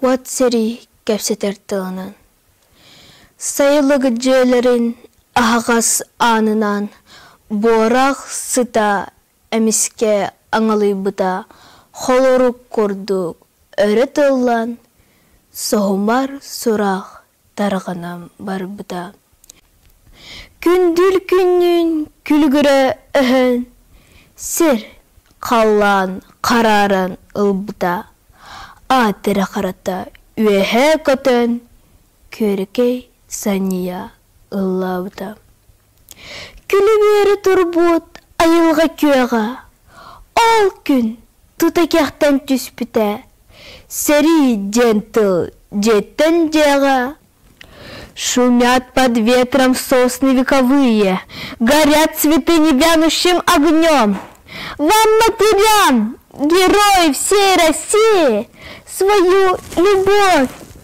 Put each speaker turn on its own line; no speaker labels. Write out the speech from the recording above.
Уот сэрии кэпсэтэр тылынан Сайылык дьиэлэрин аһаҕас аанынан буорах сыта эмискэ аҥалыйбыта холорук курдук өрө тыллан соһумар сураах тарҕанан барбыта күндүл күннүүн күлүгүрэ өһөн сир халлаан харааран ылбыта аат эрэ харата үөһэ көтөн күөркэй санньыйа ыллаабыта Күлүбүөрү турбут айылҕа күөҕэ ол күн тута кэхтэн түспүтэ сэрии диэн тыл дьиэттэн дьиэҕэ шумят под ветром сосны вековые горят цветы небянущим огнем вам матерям герои всей России свою любовь